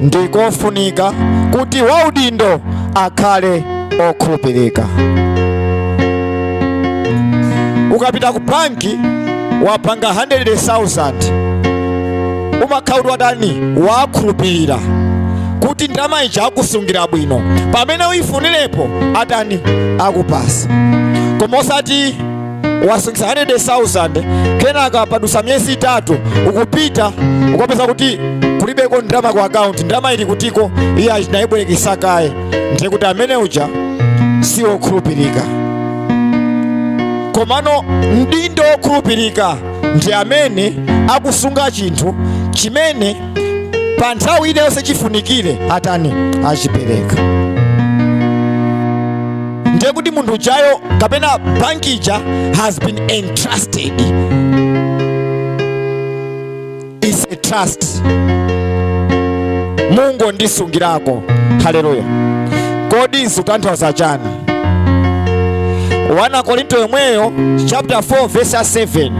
ndikofunika kuti waudindo akhale okhulupirika. Ukapita ku banki wapanga 100,000 umakhala watani wakhulupirira kuti ndalama ija akusungira bwino pamene uyifunirepo atani akupasa koma osati wasungisa 100,000 kenaka padusa miyezi itatu ukupita ukapeza kuti kulibeko ndalama ku akaunti ndalama ili kutiko iye achinayibwerekesa kaye ndiye kuti amene uja si wokhulupirika komano mdindo wokhulupirika ndi amene akusunga chinthu chimene pa nthawi ina yonse chifunikire atani achipereka ndiye kuti munthu ujayo kapena banki ija has been entrusted is a trust munthu wondisungirako haleluya kodi zikutanthauza chani 1 Korinto yomweyo chapter 4 verse 7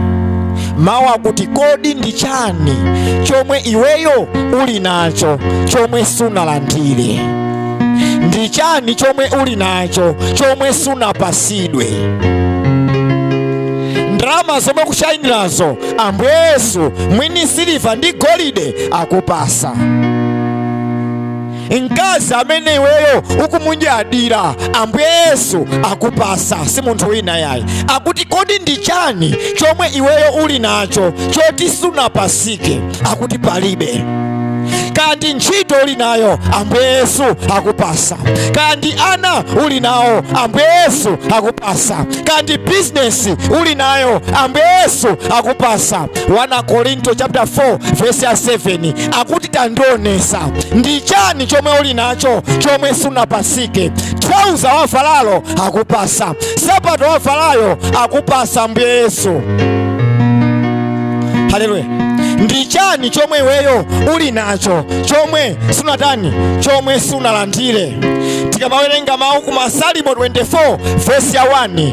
mawu akuti kodi ndi chani chomwe iweyo uli nacho chomwe sunalandire ndi chani chomwe uli nacho chomwe sunapasidwe ndalama zomwe ukushayinirazo ambuye yesu mwini siliva ndi golide akupasa mkazi amene iweyo ukumunyadira ambuye yesu akupasa si munthu wina yayi akuti kodi ndi chani chomwe iweyo uli nacho choti sunapasike akuti palibe kaya ndi ntchito uli nayo ambuye yesu akupasa kaya ndi ana uli nawo ambuye yesu akupasa kaya ndi bizinesi uli nayo ambuye yesu akupasa 1 korinto chapter 4 verse ya 7 akuti tandionesa ndi chani chomwe uli nacho chomwe sunapasike thalauza wavalalo akupasa sapato wavalayo akupasa mbuye yesu haleluya ndi chani chomwe iweyo uli nacho chomwe sunatani chomwe sunalandire tikamawerenga mawu ku masalimo 24 vesi ya 1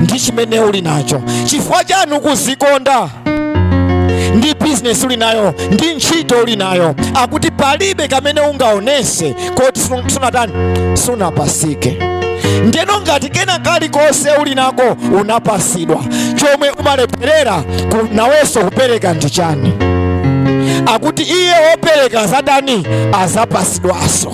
ndi chimene uli nacho chifukwa chani ukuzikonda ndi bizinesi uli nayo ndi ntchito uli nayo akuti palibe kamene ungaonese koti sun- sunatani sunapasike ndeno ngati kena kalikonse uli nako unapasidwa chomwe umalepherera ku- nawenso kupereka ndi chani akuti iye wopereka azatani azapasidwaso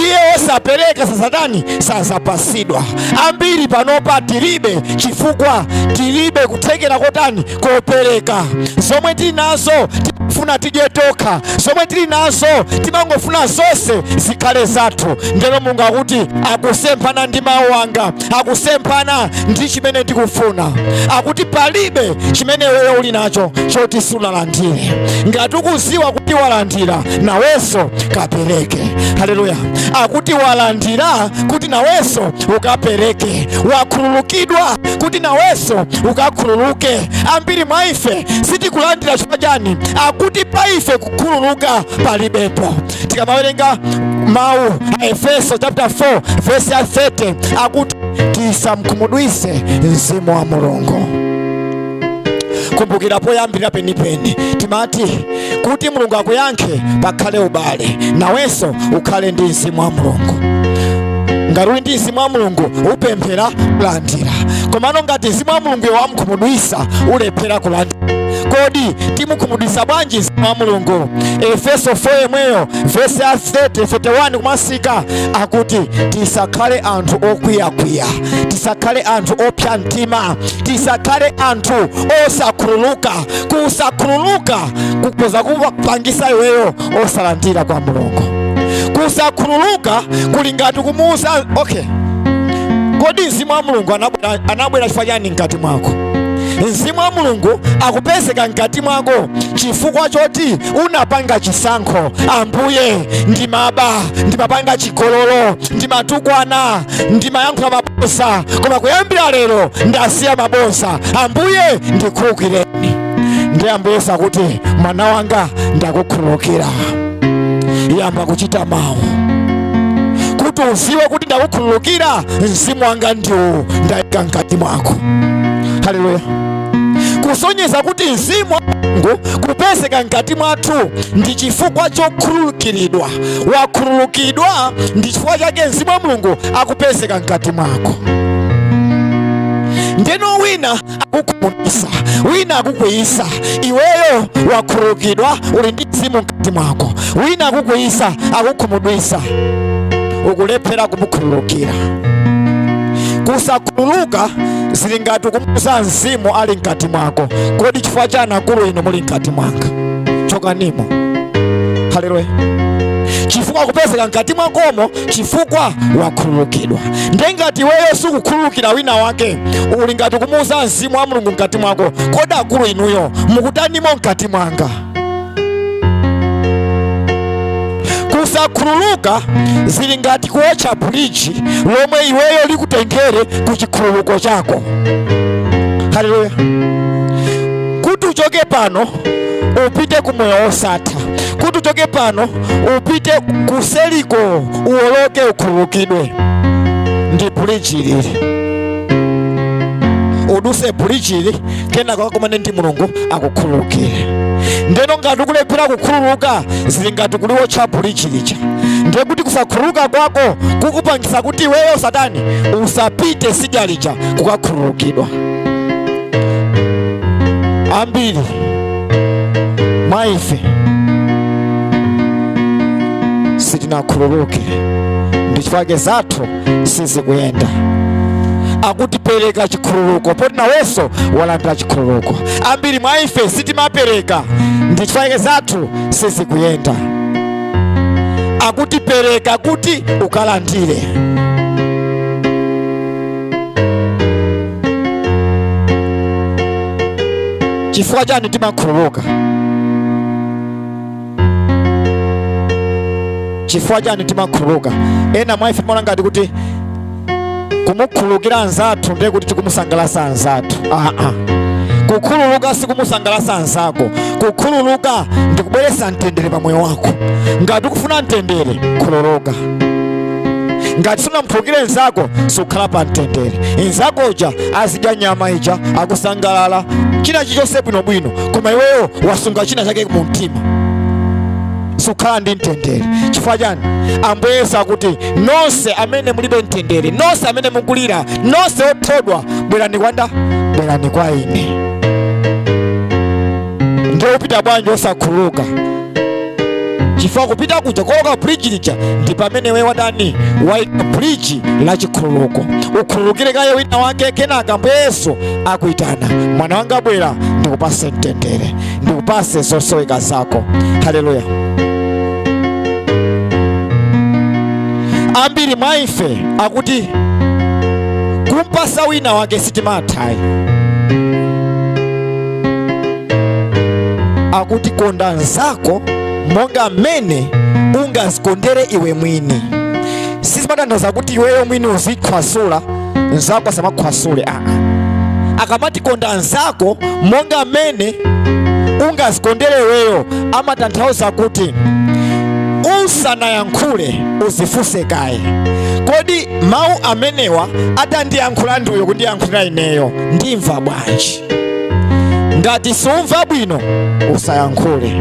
iye wosapereka sazatani sazapasidwa ambiri panopa tilibe chifukwa tilibe kuthekera kotani kopereka zomwe tili nazo tifuna tidye tokha zomwe tili nazo timangofuna zonse zikhale zathu ndeno mulungu akuti akusemphana ndi mawu anga akusemphana ndi chimene ndikufuna akuti palibe chimene iweyo uli nacho choti sunalandire ngati ukuziwa kuti walandira nawenso kapereke haleluya akuti walandira kuti nawenso ukapereke, wakhululukidwa kuti nawenso ukakhululuke. Ambiri mwa ife sitikulandira chifukwa chani? Akuti pa ife kukhululuka palibepo. Tikamawerenga mawu a Efeso chapter 4 verse ya 30 akuti tisamkhumudwise mzimu wa Mulungu. kumbukira poyambira penipeni timati kuti mulungu akuyankhe pakhale ubale nawenso ukhale ndi mzimu wa mulungu ngati uli ndi mzimu wa mulungu upemphera kulandira komano ngati mzimu wa mulungu iwe wamkhumudwisa ulephera kulandira kodi timukhumudwisa bwanji mzimu wa mulungu efeso 4 yemweyo vesi ya 30 31 kumatsika akuti tisakhale anthu okwiyakwiya tisakhale anthu opsa mtima tisakhale anthu osakhululuka kusakhululuka kukhoza kupangisa iweyo osalandira kwa mulungu kusakhululuka kuli ngati kumuuza okay kodi mzimu wa mulungu anabwera chifukwa chani mkati mwako mzimu wa mulungu akupezeka mkati mwako chifukwa choti unapanga chisankho ambuye ndimaba ndimapanga chigololo ndimatukwana ndimayankhula mabodza koma kuyambira lero ndasiya mabodza ambuye ndikhululukireni ndi ambuyeso akuti mwana wanga ndakukhululukira yamba kuchita mawu kuti uziwe kuti ndakukhululukira mzimu wanga ndiwu ndayika mkati mwako haleluya kusonyeza kuti mzimu wa mulungu kupezeka mkati mwathu ndi chifukwa chokhululukiridwa wakhululukidwa ndi chifukwa chake mzimu wa mulungu akupezeka mkati mwako ndeno wina akukhumudwisa wina akukwiyisa iweyo wakhululukidwa uli ndi mzimu mkati mwako wina akukwiyisa akukhumudwisa ukulephera kumukhululukira kusakhululuka zili ngati kumuuza mzimu ali mkati mwako kodi chifukwa chani akulu inu muli mkati mwanga chokanimo haleluya chifukwa kupezeka mkati mwakomo chifukwa wakhululukidwa nde ngati iweyo sukukhululukira wina wake uli ngati kumuuza mzimu wa mulungu mkati mwako kodi akulu inuyo mukutanimo mkati mwanga kusakhululuka zili ngati kuwotcha buliji lomwe iweyo likutengere ku chikhululuko chako haleluya kuti uchoke pano upite ku moyo wosatha kuti uchoke pano upite kuseliko uwoloke ukhululukidwe ndi bridge ili uduse bridge ili kenako ukakumane ndi mulungu akukhululukire ndeno ngati ukulephera kukhululuka zili ngati kuliwotcha bridge lija ndiye kuti kusakhululuka kwako kukupangisa kuti iweyo satani usapite sidya lija kukakhululukidwa ambiri mwa ife sitinakhululuke ndi chifukwa zathu sizikuyenda akuti pereka chikhululuko poti nawenso walandira chikhululuko ambiri mwa ife sitimapereka ndi chifukwa zathu sizikuyenda akuti pereka kuti ukalandire chifukwa chani timakhululuka chifukwa chani timakhululuka ena mwa ife timaona ngati kuti kumukhululukira anzathu ndiye kuti tikumusangalasa anzathu aa kukhululuka sikumusangalasa anzako kukhululuka ndikubweretsa mtendere pa moyo wako ngati ukufuna mtendere khululuka ngati sunamukhululukire nzako sukhala pa mtendere nzako uja azidya nyama ija akusangalala china chilichonse bwinobwino koma iweyo wasunga china chake mu mtima sukhala ndi mtendere chifukwa chani ambuye yesu akuti nonse amene mulibe mtendere nonse amene mukulira nonse othodwa bwerani kwa ndani bwerani kwa ine ndiye upita bwanji osakhululuka chifukwa kupita kuja kuoloka bridge lija ndi pamene we watani waika bridge la chikhululuko ukhululukire kaye wina wake kenaka ambuye yesu akuitana mwana wanga bwera ndikupase mtendere ndikupase zosoweka zako haleluya ambiri mwa ife akuti kumpasa wina wake sitimathayi akuti konda nzako monga mmene ungazikondere iwe mwini sizimatanthauza kuti iweyo mwini uzikhwasula nzako asamakhwasule aa akamati konda nzako monga mmene ungazikondere iweyo amatanthauza kuti usanayankhule uzifunse kaye kodi mawu amenewa atandiyankhula ndi uyo kundiyankhulira ineyo ndimva bwanji ngati sumva bwino usayankhule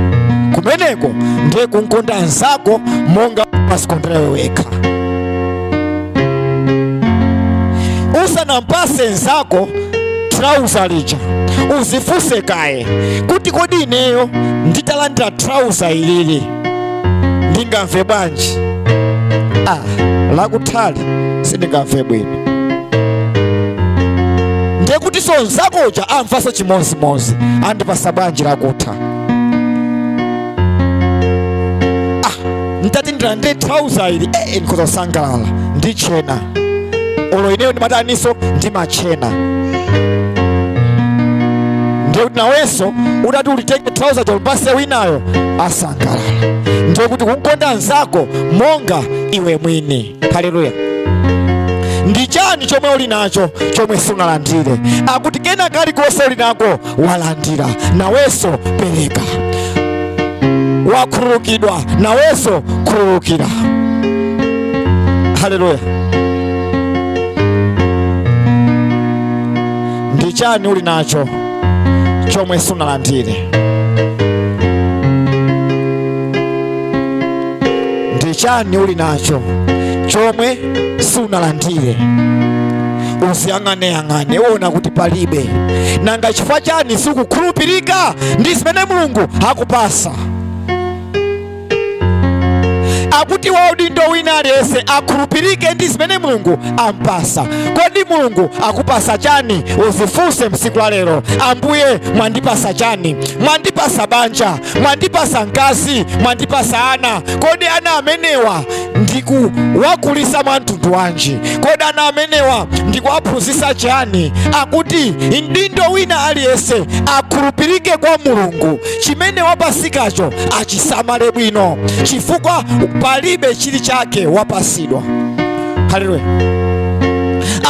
kumeneko ndiye kumkonda nzako monga umazikondera iwe wekha usanampase nzako trauza lija uzifunse kaye kuti kodi ineyo nditalandira trauza ilili ndingamve bwanji ah, lakuthali sindingamve bwino ndiye kutiso nzako uja amvaso chimozimozi andipasa bwanji lakutha ah, nditati ndilandire trouser ili eh, ndikhoza kusangalala nditchena olo ineyo ndimataniso ndimatchena ndiye kuti nawenso utati ulitenge trouser ulipase winayo asangalala ndiye kuti kumkonda nzako monga iwe mwini haleluya ndi chani chomwe uli nacho chomwe sunalandire akuti kena kalikonse uli nako walandira nawenso pereka wakhululukidwa nawenso khululukira haleluya ndi chani uli nacho chomwe sunalandire ndi chani uli nacho chomwe sunalandire uziyang'aneyang'ane uona kuti palibe nanga chifukwa chani sikukhulupirika ndi zimene mulungu akupasa akuti waudindo wina aliyense akhulupirike ndi zimene mulungu ampasa kodi mulungu akupasa chani uzifunse tsiku la lero ambuye mwandipasa chani mwandipasa banja mwandipasa mkazi mwandipasa ana kodi ana amenewa ndikuwakulisa mwa mtundu wanji kodi ana amenewa ndikuwaphunzitsa chani akuti mdindo wina aliyense akhulupirike kwa mulungu chimene wapasikacho achisamale bwino chifukwa palibe chili chake wapasidwa haleluya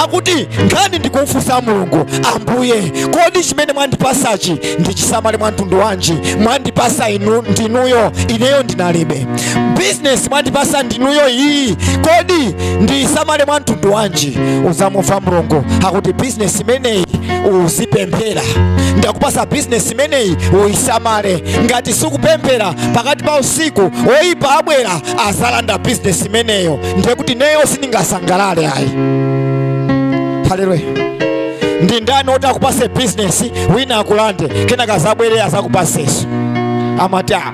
akuti nkhani ndi kumfunsa mulungu ambuye kodi chimene mwandipasachi ndichisamale mwa mtundu wanji mwandipasa ndinuyo ineyo ndinalibe bizinesi mwandipasa ndinuyo iyi kodi ndiyisamale mwa mtundu wanji udzamumva mulungu akuti bizinesi imeneyi uzipempherera ndakupasa bizinesi imeneyi uyisamale ngati sikupemphera pakati pa usiku oyipa abwera azalanda bizinesi imeneyo ndiye kuti neyo sindingasangalale ayi haleluya ndi ndani oti akupase bizinesi wina akulande kenaka azabwere azakupaseso amati "Ah,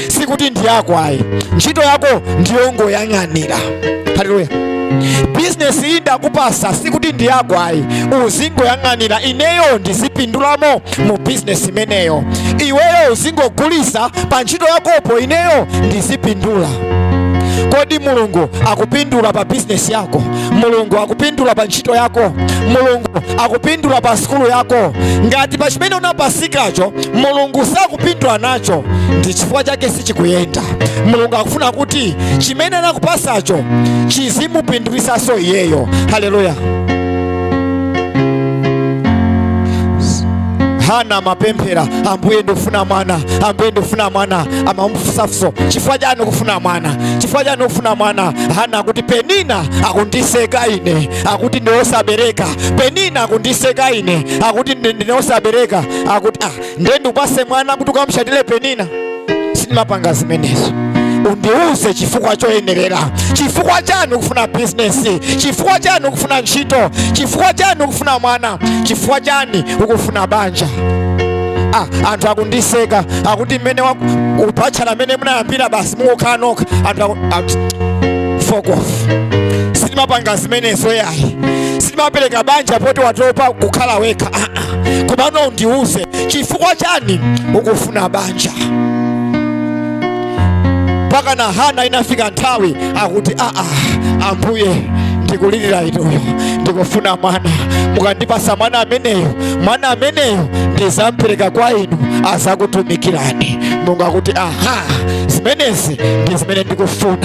sikuti ndi yako ayi ntchito yako ndiyongoyang'anira haleluya bizinesi iyi ndakupasa sikuti ndi yako ayi uzingoyang'anira ineyo ndizipindulamo mu bizinesi imeneyo iweyo uzingogulisa pa ntchito yakopo ineyo ndizipindula kodi mulungu akupindula pa bizinesi yako mulungu akupindula pa ntchito yako mulungu akupindula pa sukulu yako ngati pa chimene unapasikacho mulungu sakupindula nacho ndi chifukwa chake sichikuyenda mulungu akufuna kuti chimene anakupasacho chizimupindulitsanso iyeyo haleluya hana amapemphera ambuye ndikufuna mwana ambuye ndikufuna mwana amamufunsafunso chifukwa chani ukufuna mwana chifukwa chani ukufuna mwana hana akuti penina akundiseka ine akuti ndine osabereka penina akundiseka ine akuti ndi- ndine osabereka akuti ah, ndiye ndikupase mwana kuti ukamushainire penina sindimapanga zimenezo undiuze chifukwa choyenerera chifukwa chani ukufuna bizinesi chifukwa chani ukufuna ntchito chifukwa chani ukufuna mwana chifukwa chani ukufuna banja ah, anthu akundiseka akuti mmene upatchala mmene munayambira basi mukukhala nokha anthu aku- akuti, fuck off sindimapanga zimenezo yayi sindimapereka banja poti watopa kukhala wekha ah, ah. komano undiuze chifukwa chani ukufuna banja mpaka na hana inafika nthawi akuti aa ambuye ndikulirira inuyo ndikufuna mwana mukandipasa mwana ameneyo mwana ameneyo ndizampereka kwa inu azakutumikirani mulungu akuti aha zimenezi ndi zimene ndikufuna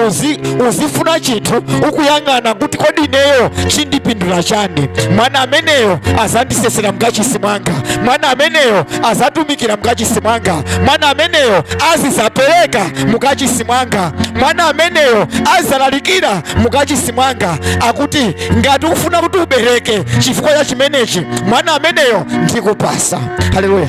uzi uzifuna chinthu ukuyang'ana kuti kodi ineyo chindipindula chani mwana ameneyo azandisesera mkachisi mwanga mwana ameneyo azatumikira mkachisi mwanga mwana ameneyo azizapereka mukachisi mwanga mwana ameneyo azalalikira mukachisi mwanga akuti ngati ufuna kuti ubereke chifukwa cha chimenechi mwana ameneyo ndikupasa haleluya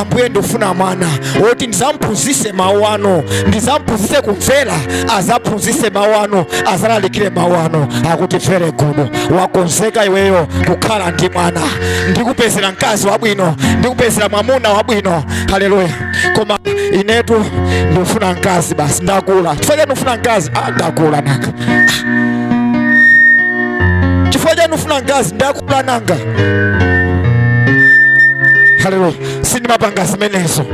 ambuye ndifuna mwana woti ndizamphunzise mawu anu ndizamphunzise kumvera azaphunzise mawu anu azalalikire mawu anu akuti very good wakonzeka iweyo kukhala ndi mwana ndikupezera mkazi wabwino ndikupezera mwamuna wabwino haleluya koma inetu ndifuna mkazi basi ndakula chifukwa chani ufuna mkazi ah, ndakula nanga chifukwa chani ufuna mkazi ndakula nanga haleluya sindimapanga zimenezo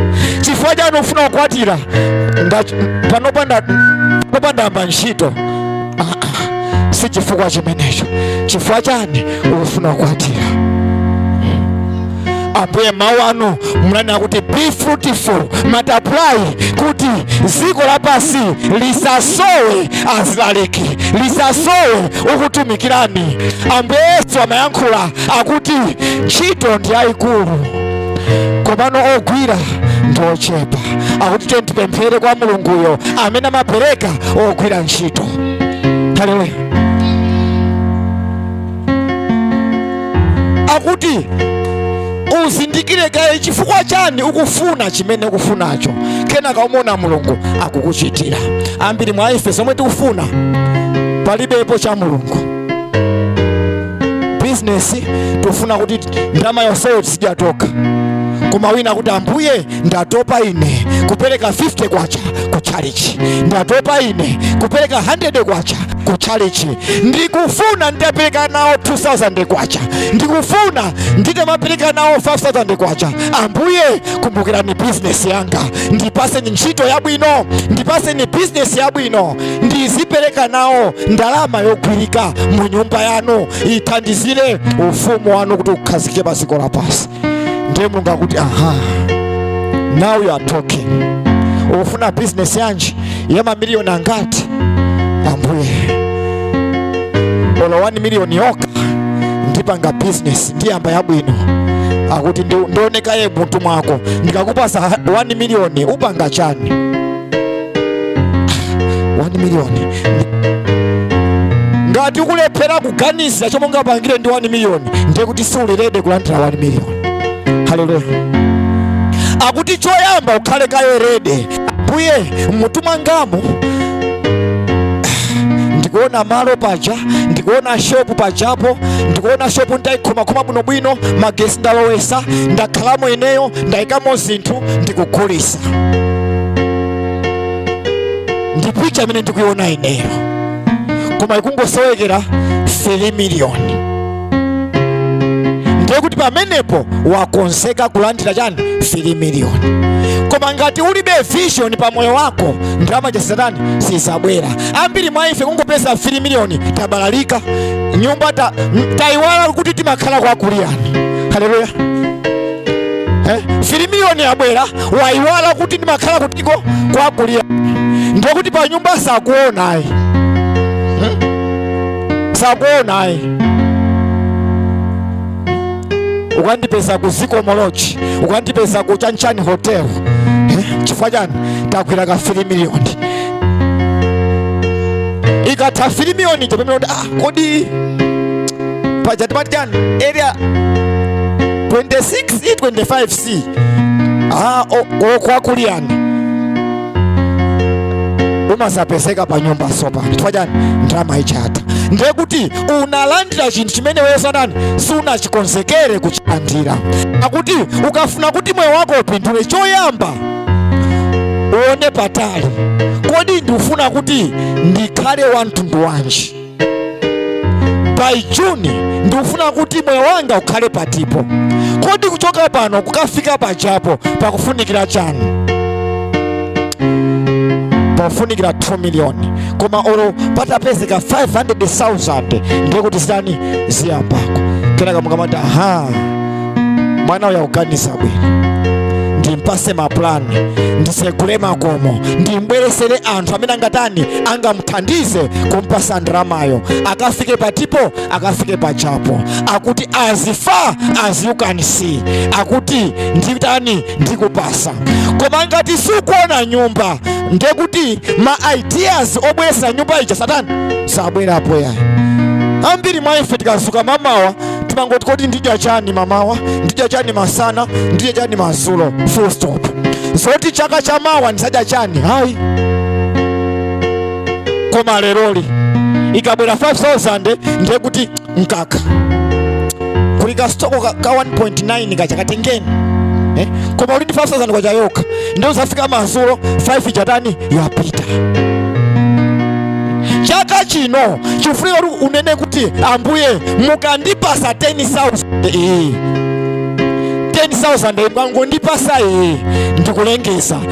chifukwa chani ufuna kukwatira panopa ndayamba ntchito Ah, ah, si chifukwa chimenecho chifukwa chani ufuna kukwatira ambuye mawu anu munanena kuti be fruitful multiply kuti dziko lapansi lisasowe azilaliki lisasowe okutumikirani ambuye yesu amayankhula akuti ntchito ndi yayikulu komano ogwira ndi ochepa akuti tiyeni tipemphere kwa mulunguyo amene amapereka ogwira ntchito haleluya akuti uzindikire kaye chifukwa chani ukufuna chimene ukufunacho kenaka umona mulungu akukuchitira ambiri mwa ife zomwe tikufuna palibepo cha mulungu bizinesi tufuna kuti ndalama yonseyo tizidya tokha koma wina akuti ambuye ndatopa ine kupereka 50 kwacha ku chalichi ndatopa ine kupereka 100 kwacha ku chalichi ndikufuna nditapereka nawo 2000 kwacha ndikufuna nditamapereka nawo 5000 kwacha ambuye kumbukirani bizinesi yanga ndipaseni ntchito yabwino ndipaseni bizinesi yabwino ndizipereka nawo ndalama yogwirika mu nyumba yanu ithandizire ufumu wanu kuti ukhazikike pa dziko lapansi ndiye mulungu akuti aha now you are talking ukufuna bizinesi yanji yamamiliyoni angati ambuye olo 1 miliyoni yokha ndipanga bizinesi ndiyamba yabwino akuti ndi- ndione kaye mmutu mwako ndikakupasa 1 miliyoni upanga chani 1 million ngati ukulephera kuganiza chomwe ungapangire ndi 1 million ndiye kuti siuli rede kulandira 1 million haleluya akuti choyamba ukhale kaye rede ambuye mmutu mwangamu ndikuona malo paja ndikuona shopu pajapo ndikuona shopu ndaikhoma khoma bwinobwino magesi ndalowesa ndakhalamo ineyo ndayikamo zinthu ndikugulisa ndi picha imene ndikuyiona ineyo koma ikungosowekera 3 miliyoni ndiye kuti pamenepo wakonzeka kulandira chani 3 miliyoni koma ngati ulibe vision pa moyo wako ndalama za satani sizabwera ambiri mwa ife kungopeza 3 miliyoni tabalalika nyumba tayiwala kuti timakhala kwa kuliyani haleluya Eh, 3 miliyoni yabwera wayiwala kuti ndimakhala kutiko kwa Kuliyani ndiye kuti pa nyumba sakuonayi hmm? sakuonayi ukandipeza ku Zikomo Lodge ukandipeza ku chanchani hotel eh, chifukwa chani tagwira ka 3 miliyoni ikatha 3 miliyoni chapemera kuti ah, kodi paja timati chani area 26 e 25 c ah, o- o kwa Kuliyani umasapezeka pa nyumba sopano chifukwa chani ndalama ija yatha ndiye kuti unalandira chinthu chimene iweyo satani sunachikonzekere kuchilandira akuti ukafuna kuti moyo wako upindule choyamba uone patali kodi ndikufuna kuti ndikhale wa mtundu wanji by june ndikufuna kuti moyo wanga ukhale patipo kodi kuchoka pano kukafika pajapo pakufunikira chani pakufunikira 2 million koma olo patapezeka 500000 ndiye kuti zitani ziyambako kenaka mukamati aha mwana uyu akuganiza bwino ndimpase mapulani nditsegule makomo ndimbweresere anthu amene angatani angam amuthandize kumpasa ndalamayo akafike patipo akafike pajapo akuti as far as you can see akuti nditani ndikupasa koma ngati sukuona nyumba ndekuti ma ideas obweresa nyumba ija satani sabwerapo yayi ambiri mwa ife tikazuka mamawa timangoti kodi ndidya chani mamawa ndidya chani masana ndidya chani mazulo full stop zoti chaka cha mawa ndisadya chani hayi koma leroli ikabwera 5000 ndiye kuti mkaka kuli kasitoko ka, ka 1.9 kaja katengeni eh? koma uli ndi 5000 kwacha yokha ndiye uzafika madzulo 5 ija yatani yapita chaka chino chifunika kuti unene kuti ambuye mukandipasa 10000 iyi 10000 mukangondipasa iyi ndikulengeza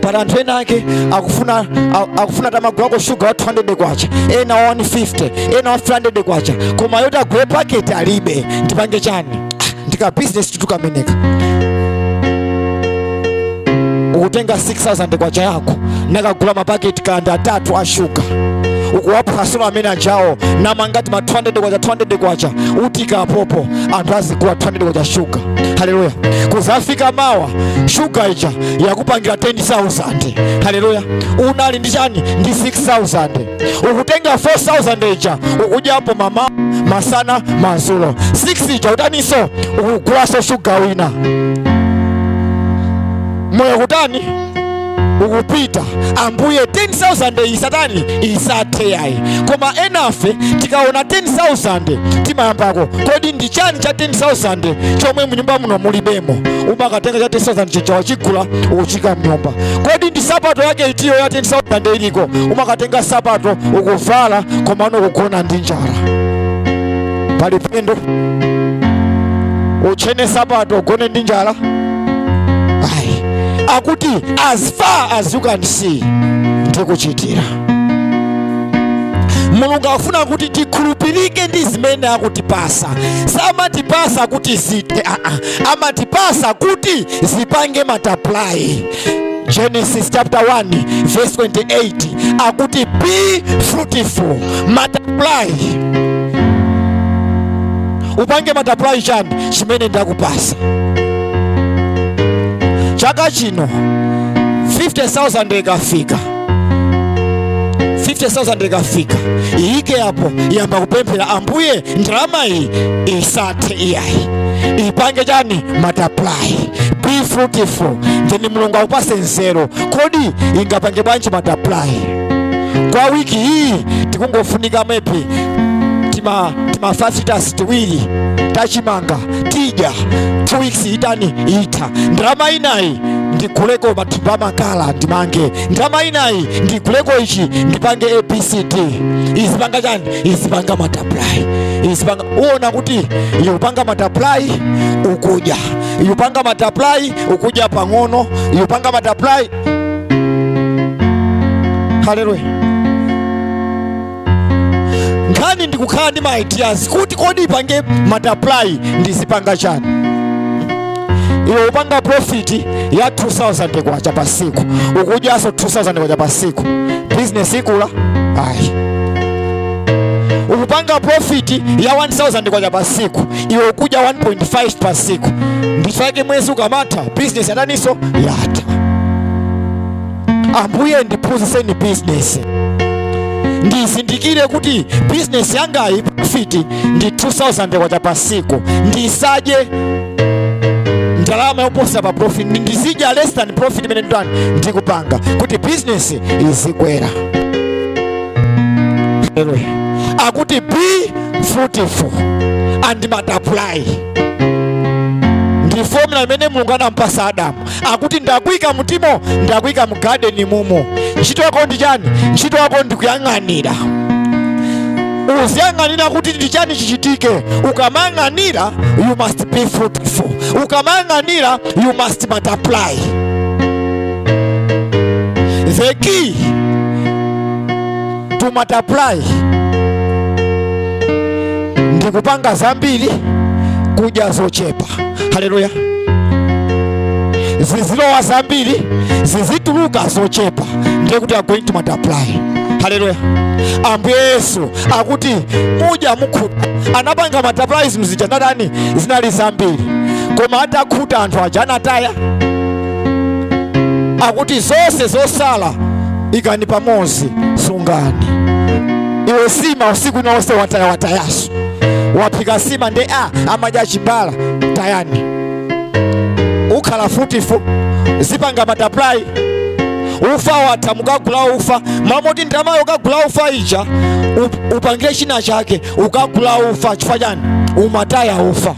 pali anthu ena ake akufuna a- akufuna atamagulako shuga wa 200 kwacha ena wa 150 ena wa 300 kwacha koma yoti agule paketi alibe ndipange chani Ah, ndi ka business ndithu kameneka ukutenga 6000 kwacha yako nakagula mapaketi kaya ndi atatu a shuga ukuwaphwasula amene ajawo namanga tima 200 kwacha 200 kwacha utiika apopo anthu azigula 200 kwacha shuga haleluya kuzafika mawa shuga ija yakupangira 10000 haleluya unali ndi chani ndi 6000 ukutenga 4000 ija ukudyapo mamawa masana mazulo 6 ija utaniso ukugulaso shuga wina moyo kutani ukupita ambuye 10000 isatani isathe yayi koma enafe tikaona 10000 timayambako kodi ndi chani cha 10000 chomwe mnyumba muno mulibemo umakatenga cha 10000 chija wachigula ukuchiika mnyumba kodi ndi sapato yake itiyo ya 10000 iliko umakatenga sapato ukuvala komano kugona ndi njala pali phindu utchene sapato ugone ndi njala ayi akuti as far as you can see ndikuchitira mulungu akufuna kuti tikhulupirike ndi zimene akutipasa samatipasa kuti zithe aa amatipasa kuti zipange multiply genesis chapter 1 verse 28 akuti be fruitful multiply upange multiply chani chimene ndakupasa chaka chino 50000 ikafika 50000 ikafika iyike apo yamba kupemphera ambuye ndalama iyi isathe iyayi ipange chani multiply be fruitful then mulungu akupase nzeru kodi ingapange bwanji multiply kwa wiki hii tikungofunika maybe tima tima five litres tiwiri tachimanga tidya two weeks itani itha ndalama inayi ndiguleko matumba makala ndimange ndalama inayi ndiguleko ichi ndipange abcd izipanga chani izipanga multiply izipanga uona kuti ikupanga multiply ukudya ikupanga multiply ukudya pang'ono ikupanga multiply haleluya nkhani ndikukhala ndi ma ideas kuti kodi ipange multiply ndizipanga chani iwe upanga profit ya 2000 kwacha pa siku ukudyaso 2000 kwacha pa siku business ikula ayi ukupanga profit ya 1000 kwacha pa siku iwe ukudya 1.5 pa siku ndichake mwezi ukamatha bizinesi yataniso yatha ambuye ndiphunzitseni bizinesi ndizindikire kuti bizinesi yangayi profiti ndi 2000 kwacha pa siku ndisadye ndalama yoposa pa profit ndi- ndizidya less than profit imene nditani ndikupanga kuti bizinesi izikwera Hallelujah. akuti be fruitful and multiply ndi formula imene mulungu anampasa adamu akuti ndakuika mtimo ndakuika m'garden mumo ntchito yako ndi chani ntchito yako ndi kuyang'anira uziyang'anira kuti ndi chani chichitike ukamayang'anira you must be fruitful ukamayang'anira you must multiply the key to multiply ndi kupanga zambiri kudya zochepa haleluya zizilowa zambiri zizituluka zochepa ndiye kuti are going to multiply haleluya ambuye yesu akuti mudya mukhuta anapanga multiply zinthu zija zinatani zinali zambiri koma atakhuta anthu aja anataya akuti zonse zosala ikani pamodzi sungani iwe sima usiku ina wonse wataya watayaso waphika sima nde a amadya chibala tayani ukhala fruitful zipanga multiply ufa watha mukagula ufa m'mamoti ndalamayo ukagula ufa ija upangire china chake ukagula ufa chifukwa chani umataya ufa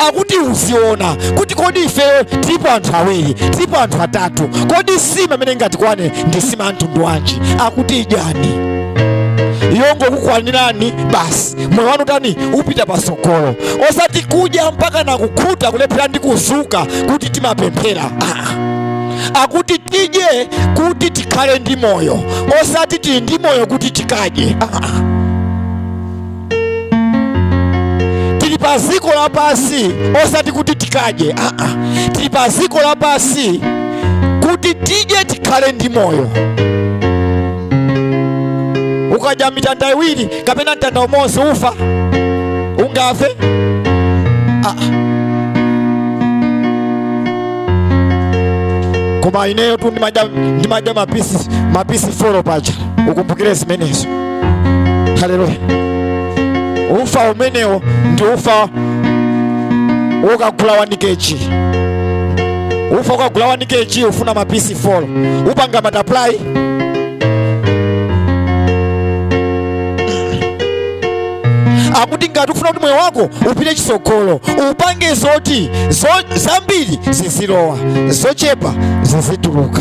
akuti uziona kuti kodi ifeyo tilipo anthu awiri tilipo anthu atatu kodi sima amene ingatikwane ndi sima ya mtundu wanji akuti idyani yongokukwanirani basi moyo wanu tani upita pasogolo osati kudya mpaka nakukhuta kulephera ndi kudzuka kuti timapemphera ah. akuti tidye kuti tikhale ndi moyo osati tili ndi moyo kuti tikadye ah. tili pa dziko lapansi osati kuti tikadye aa tili pa dziko lapansi kuti tidye tikhale ndi moyo ukadya mitanda iwiri kapena mtanda umodzi ufa ungafe aa koma ineyo tu ndimadya mapisi 4 paja ukumbukire zimenezo haleluya ufa umenewo ndi ufa wokagula 1 kg ufa wokagula 1 kg ufuna mapisi 4 upanga multiply akuti ngati ufuna kuti moyo wako upite chitsogolo upange zoti zambiri zizilowa zochepa zizituluka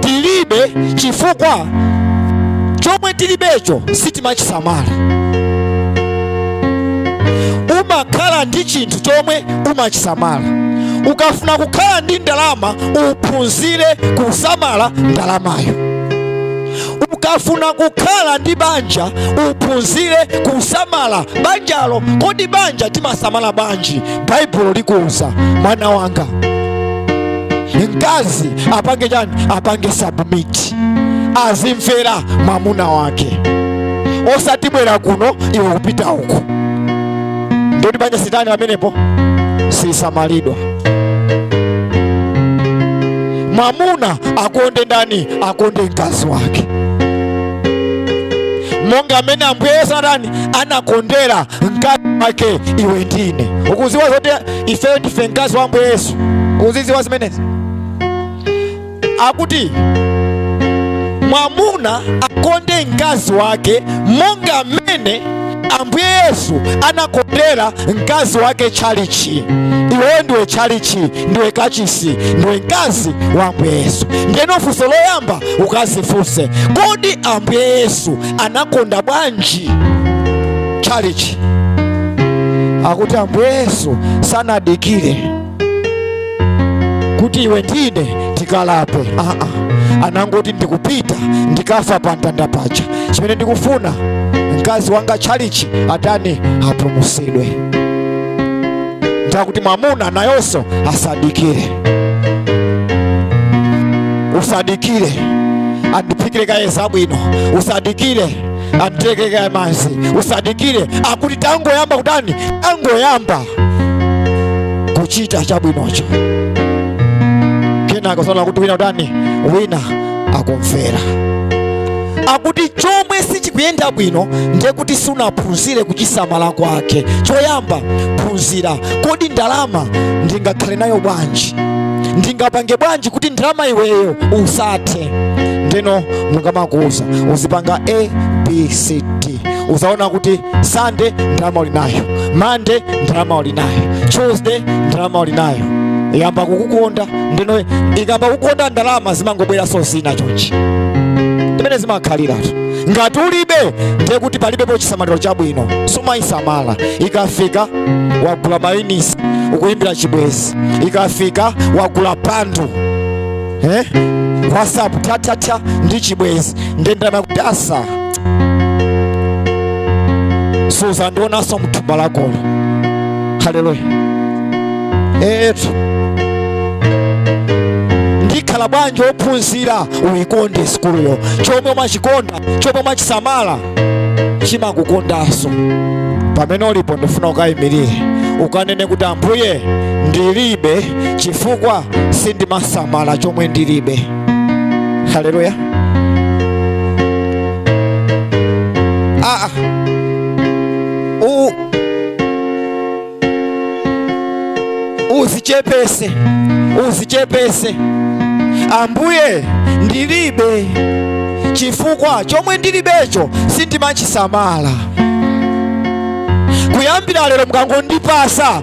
tilibe chifukwa chomwe tilibecho sitimachisamala umakhala ndi chinthu chomwe umachisamala ukafuna kukhala ndi ndalama uphunzire kusamala ndalamayo ukafuna kukhala ndi banja uphunzire kusamala banjalo kodi banja timasamala banji baibulo likuwuza mwana wanga mkazi apange chani apange submit azimvera mwamuna wake osati bwera kuno iwe kupita uku ndiye kuti banja silitani pamenepo sisamalidwa mwamuna akonde ndani akonde mkazi wake monga mmene ambuye yesu anakondera mkazi wake iwe ndi ine ukuziwa zoti ife ndife mkazi wa ambuye yesu ukuziziwa zimenezi akuti mwamuna akonde mkazi wake monga mmene ambuye yesu anakondera mkazi wake tchalichi iwe ndiwe tchalichi ndiwe kachisi ndiwe mkazi wa ambuye yesu ndeno funso loyamba ukazifunse kodi ambuye yesu anakonda bwanji chalichi akuti ambuye yesu sanadikire kuti iwe ndi ine tikalape aa anangoti ndikupita ndikafa pa mtanda paja chimene ndikufuna mkazi wanga chalichi atani apulumutsidwe nde akuti mwamuna nayonso asadikire usadikire andiphikire kaye zabwino usadikire anditekere kaye madzi usadikire akuti tangoyamba kutani tangoyamba kuchita chabwinocho kenako uzaona kuti wina kutani wina akumvera akuti chomwe sichikuyenda bwino ndiye kuti sunaphunzire kuchisamala kwake choyamba phunzira kodi ndalama ndingakhale nayo bwanji ndingapange bwanji kuti ndalama iweyo usathe ndeno akamakuuza uzipanga abcd uzaona kuti sunday ndalama uli nayo monday ndalama uli nayo tuesday ndalama uli nayo yayamba kukukonda ndeno ikayamba kukukonda ndalama zimangobweranso zina chonchi ndi mmene zimakhaliratu ngati ulibe ndiye kuti palibepo chisamaliro chabwino sumayisamala ikafika wagula mayunitsi ukuyimbira chibwenzi ikafika wagula bundle eh? whatsapp tatata ndi chibwenzi nde ndalama kutasa suzandionanso mthumba lakolo haleluya etu ndikhala bwanji ophunzira uyikonde sikuluyo chomwe umachikonda chomwe umachisamala chimakukondanso pamene ulipo ndifuna ukayimirire ukanene kuti ambuye ndilibe chifukwa sindimasamala chomwe ndilibe haleluya ah, ah. U- uzichepese uzichepese ambuye ndilibe chifukwa chomwe ndilibecho sindimachisamala kuyambira lero mukangondipasa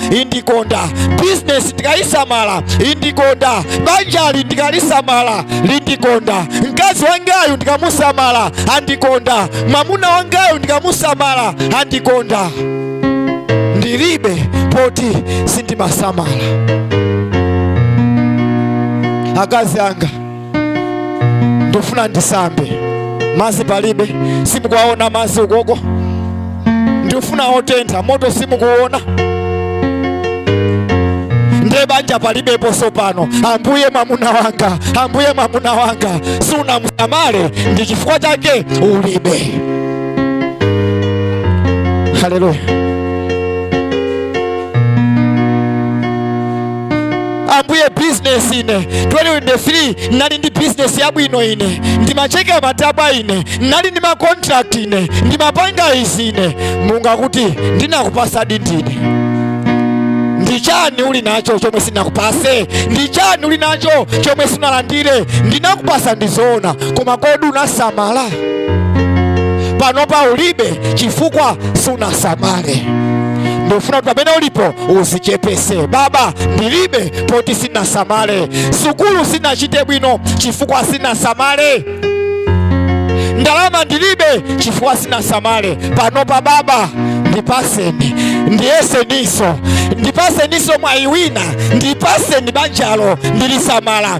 indikonda bizinesi ndikaisamala indikonda banjali ndikalisamala lindikonda mkazi wangayu ndikamusamala andikonda mwamuna wangayu ndikamusamala andikonda ndilibe poti sindimasamala akazi anga ndifuna ndisambe mazi palibe simukuwaona mazi ukoko ndifuna otentha moto simukuona ndiye banja palibeposo pano ambuye mwamuna wanga ambuye mwamuna wanga sunamusamale ndi chifukwa chake ulibe haleluya ambuye bizinesi ine 2023 ndinali ndi bizinesi yabwino ine ndimacheka matabwa ine nali ndi makontrakt ine ndimapanga izi ine mulungu akuti ndinakupasadi ndi ine ndichani uli nacho chomwe sinakupase ndichani uli nacho chomwe siunalandire ndinakupasa ndizoona koma kodi unasamala panopa ulibe chifukwa sunasamale ndofuna kuti pamene ulipo uzichepese baba ndilibe poti sinasamale sukulu sinachite bwino chifukwa sinasamale ndalama ndilibe chifukwa sinasamale panopa baba ndipaseni ndiyeseniso ndipaseniso mwayi wina ndipaseni banjalo ndilisamala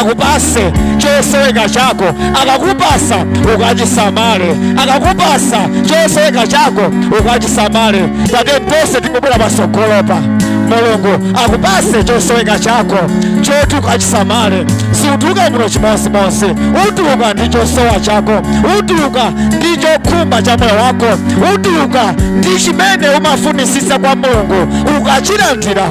akupase chosoweka chako akakupasa ukachisamale akakupasa chosoweka chako ukachisamale tate tonse tikubwera patsogolopa mulungu akupase chosoweka chako choti ukachisamale siutuluka muno chimodzimodzi utuluka ndi chosowa chako utuluka ndi chokhumba cha moyo wako utuluka ndi chimene umafunisisa kwa mulungu ukachilandira